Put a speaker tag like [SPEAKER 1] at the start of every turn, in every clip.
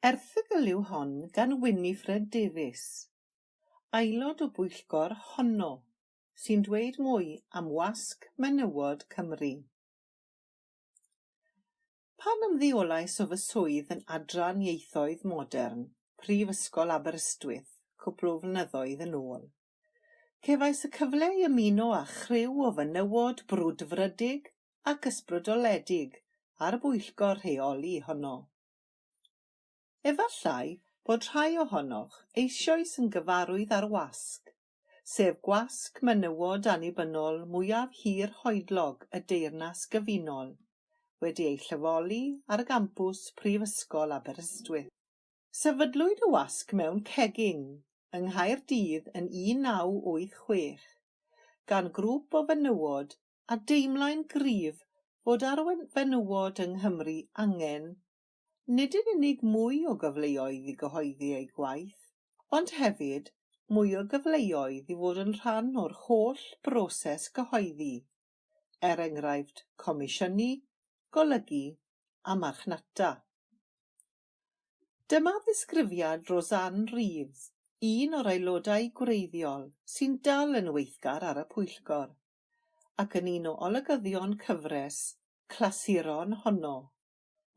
[SPEAKER 1] Erthygl yw hon gan Winifred Davies, aelod o bwyllgor honno, sy'n dweud mwy am wasg menywod Cymru. Pan ymddeolais o fy swydd yn Adran Ieithoedd Modern, Prifysgol Aberystwyth, cwpl o flynyddoedd yn ôl, cefais y cyfle i ymuno â chriw o fenywod brwdfrydig ac ysbrydoledig ar bwyllgor rheoli honno. Efallai bod rhai ohonoch eisoes yn gyfarwydd â'r wasg, sef gwasg menywod annibynnol mwyaf hir hoedlog y Deyrnas Gyfunol, wedi ei lleoli ar gampws Prifysgol Aberystwyth. Sefydlwyd y wasg mewn cegin yng Nghaerdydd yn 1986 gan grŵp o fenywod a deimlai'n gryf fod ar fenywod yng Nghymru angen nid yn unig mwy o gyfleoedd i gyhoeddi eu gwaith, ond hefyd mwy o gyfleoedd i fod yn rhan o'r holl broses gyhoeddi, er enghraifft comisiynu, golygu a marchnata. Dyma ddisgrifiad Roseanne Reeves, un o'r aelodau gwreiddiol sy'n dal yn weithgar ar y pwyllgor. ac yn un o olygyddion cyfres clasuron honno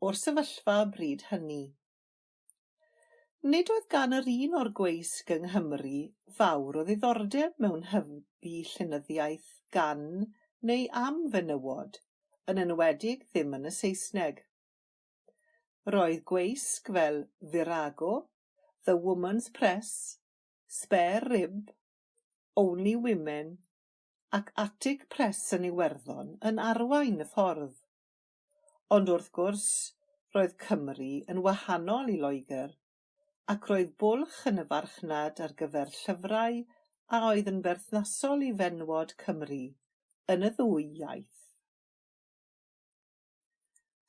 [SPEAKER 1] o'r sefyllfa bryd hynny. Nid oedd gan yr un o'r gweisg yng Nghymru fawr o ddiddordeb mewn hybu llenyddiaeth gan neu am fenywod, yn enwedig ddim yn y Saesneg. Roedd gweisg fel Virago, The Woman's Press, Spare Rib, Only Women ac atig pres yn Iwerddon yn arwain y ffordd. Ond wrth gwrs, roedd Cymru yn wahanol i Loegr, ac roedd bwlch yn y farchnad ar gyfer llyfrau a oedd yn berthnasol i fenywod Cymru yn y ddwy iaith.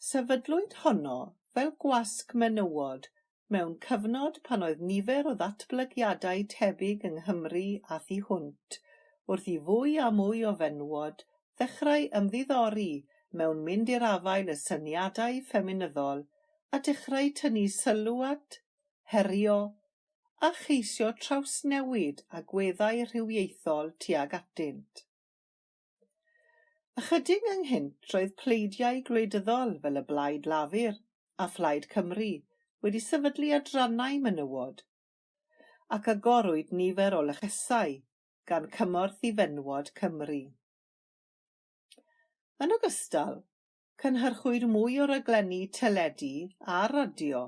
[SPEAKER 1] Sefydlwyd honno fel gwasg menywod mewn cyfnod pan oedd nifer o ddatblygiadau tebyg yng Nghymru a thu hwnt, wrth i fwy a mwy o fenywod ddechrau ymddiddori mewn mynd i'r afael â syniadau ffeminyddol a dechrau tynnu sylw at, herio a cheisio trawsnewid agweddau rhywiaethol tuag atynt. Ychydig ynghynt roedd pleidiau gwleidyddol fel y Blaid Lafur a Phlaid Cymru wedi sefydlu adrannau menywod, ac agorwyd nifer o lechesau gan Cymorth i Fenywod Cymru. Yn ogystal, cynhyrchwyd mwy o raglenni teledu a radio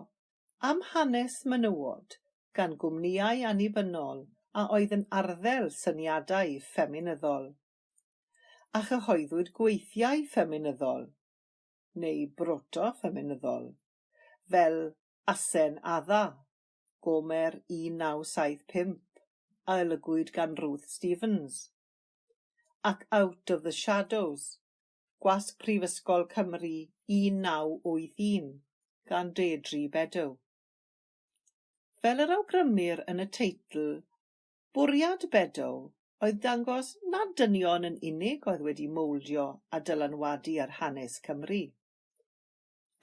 [SPEAKER 1] am hanes menywod gan gwmnïau annibynnol a oedd yn arddel syniadau ffeminyddol, a chyhoeddwyd gweithiau ffeminyddol, neu broto-ffeminyddol, fel Asen Adda, Gomer 1975, a olygwyd gan Ruth Stevens, ac Out of the Shadows, Gwasg Prifysgol Cymru 1981, gan Deirdre Beddow. Fel yr awgrymir yn y teitl, bwriad Beddow oedd dangos nad dynion yn unig oedd wedi mowldio a dylanwadu ar hanes Cymru.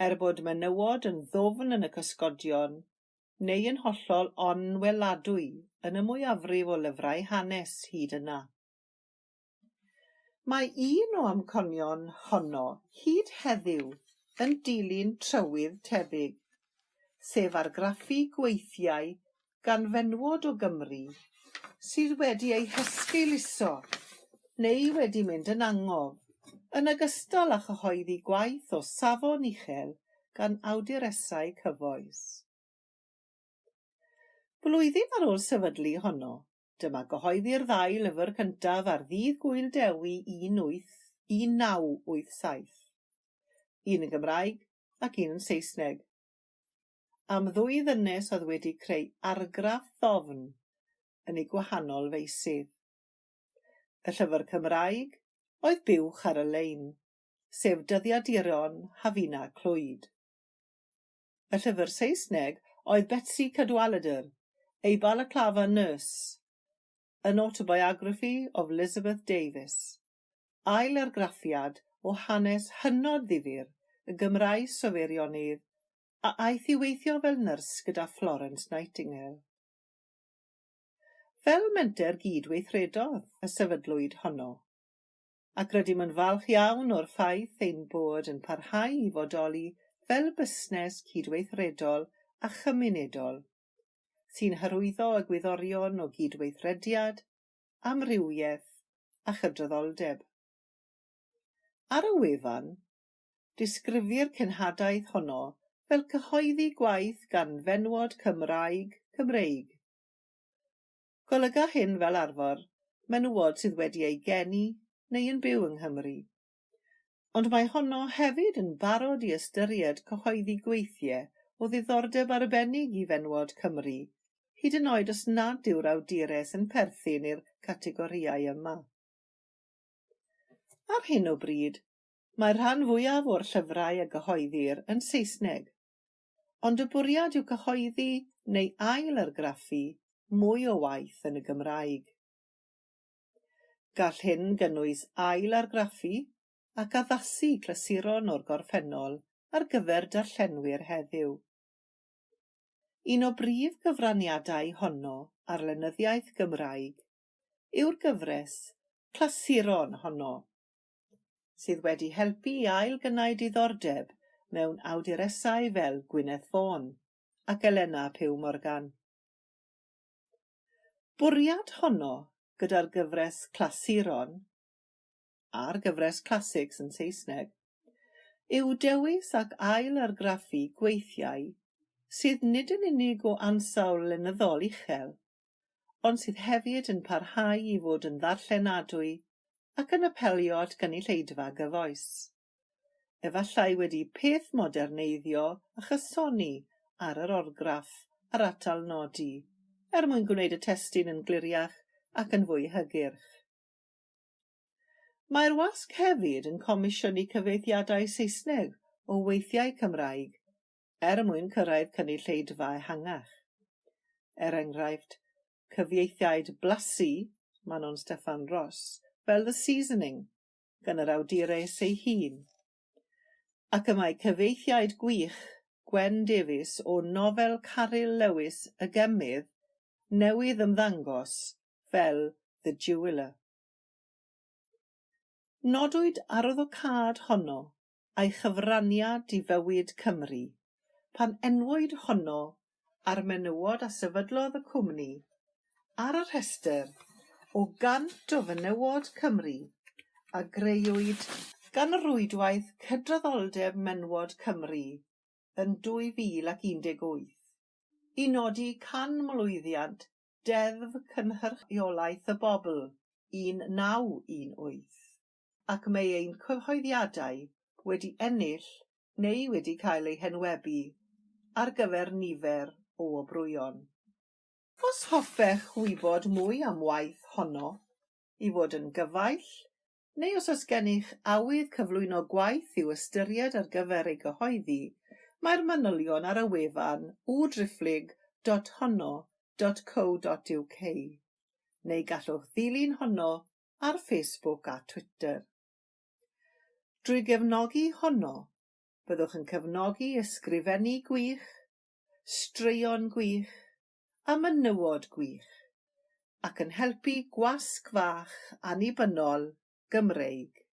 [SPEAKER 1] Er bod menywod yn ddwfn yn y cysgodion, neu yn hollol onweladwy yn y mwyafrif o lyfrau hanes hyd yna, Mae un o amconion honno hyd heddiw yn dilyn trywydd tebyg, sef argraffu gweithiau gan fenywod o Gymru sydd wedi eu hesgeuluso neu wedi mynd yn angof, yn ogystal â chyhoeddi gwaith o safon uchel gan awduresau cyfoes. Blwyddyn ar ôl sefydlu honno, Dyma gyhoeddi'r ddau lyfr cyntaf ar Ddydd Gŵyl Dewi 18, 1987. Un yn Gymraeg ac un yn Saesneg. Am ddwy ddynes oedd wedi creu argraff ddofn yn eu gwahanol feysydd. Y llyfr Cymraeg oedd Buwch ar y Lein, sef dyddiaduron Hafina Clwyd. y llyfr Saesneg oedd Betsi Cadwaladr, ei balaclafa nurse, An Autobiography of Elizabeth Davis, ail-argraffiad o hanes hynod ddifyr y Gymraes o Feirionnydd, a aeth i weithio fel nyrs gyda Florence Nightingale. Fel menter gyd-weithredodd y sefydlwyd honno. ac rydym yn falch iawn o'r ffaith ein bod yn parhau i fodoli fel busnes cydweithredol a chymunedol, sy'n hyrwyddo egwyddorion o gydweithrediad, amrywiaeth a chydraddoldeb. Ar y wefan, disgrifir cenhadaeth honno fel cyhoeddi gwaith gan fenywod Cymraeg, Cymreig. Golyga hyn fel arfor menywod sydd wedi eu geni neu yn byw yng Nghymru. Ond mae honno hefyd yn barod i ystyried cyhoeddi gweithie o ddiddordeb arbennig i fenywod Cymru, hyd yn oed os nad yw'r awdures yn perthyn i'r categorïau yma. Ar hyn o bryd, mae'r rhan fwyaf o'r llyfrau a gyhoeddir yn Saesneg, ond y bwriad yw cyhoeddi neu ail-argraffu mwy o waith yn y Gymraeg. Gall hyn gynnwys ail-argraffu ac addasu clasuron o'r gorffennol ar gyfer darllenwyr heddiw. Un o brif gyfraniadau honno ar lenyddiaeth Gymraeg yw'r gyfres clasuron honno. sydd wedi helpu i ail-gynnau diddordeb mewn awduresau fel Gwyneth Vaughan ac Elena Pugh Morgan. Bwriad honno gyda'r gyfres Clasuron, a'r gyfres Classics yn Saesneg, yw dewis ac ail-argraffu gweithiau sydd nid yn unig o ansawdd lenyddol uchel, ond sydd hefyd yn parhau i fod yn ddarllenadwy ac yn apelio at gynulleidfa gyfoes. Efallai wedi peth moderneiddio a chysoni ar yr orgraff a'r atal nodi, er mwyn gwneud y testun yn gliriach ac yn fwy hygyrch. Mae'r wasg hefyd yn comisiynu cyfieithiadau Saesneg o weithiau Cymraeg er mwyn cyrraedd cynulleidfa ehangach. Er enghraifft, cyfieithiaid blasu Manon Steffan Ros fel The Seasoning gan yr awdures ei hun, ac y mae cyfieithiaid gwych Gwen Davies o nofel Caryl Lewis Y Gemydd newydd ymddangos fel The Jeweller. Nodwyd arwyddocâd honno a'i chyfraniad i fywyd Cymru, pan enwwyd honno ar menywod a sefydlodd y cwmni ar y rhestr o 100 o fenywod Cymru a grëwyd gan Rwydwaith Cydraddoldeb Menywod Cymru yn 2018, i nodi canmlwyddiant Deddf Cynhyrchiolaeth y Bobl 1918. ac mae ein cyhoeddiadau wedi ennill neu wedi cael eu henwebu ar gyfer nifer o wobrwyon. Os hoffech wybod mwy am waith honno, i fod yn gyfaill, neu os oes gennych awydd cyflwyno gwaith i'w ystyried ar gyfer ei gyhoeddi, mae'r manylion ar y wefan www.driphlyg dot honno dot co dot uk, neu gallwch ddilyn honno ar Facebook a Twitter. Drwy gefnogi honno, byddwch yn cefnogi ysgrifennu gwych, straeon gwych a menywod gwych, ac yn helpu gwasg fach annibynnol Gymreig.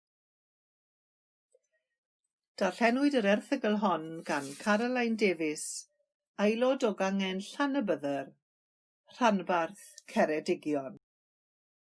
[SPEAKER 1] Darllenwyd yr erthygl hon gan Caroline Davies, aelod o Gangen Llanybydder, rhanbarth Ceredigion.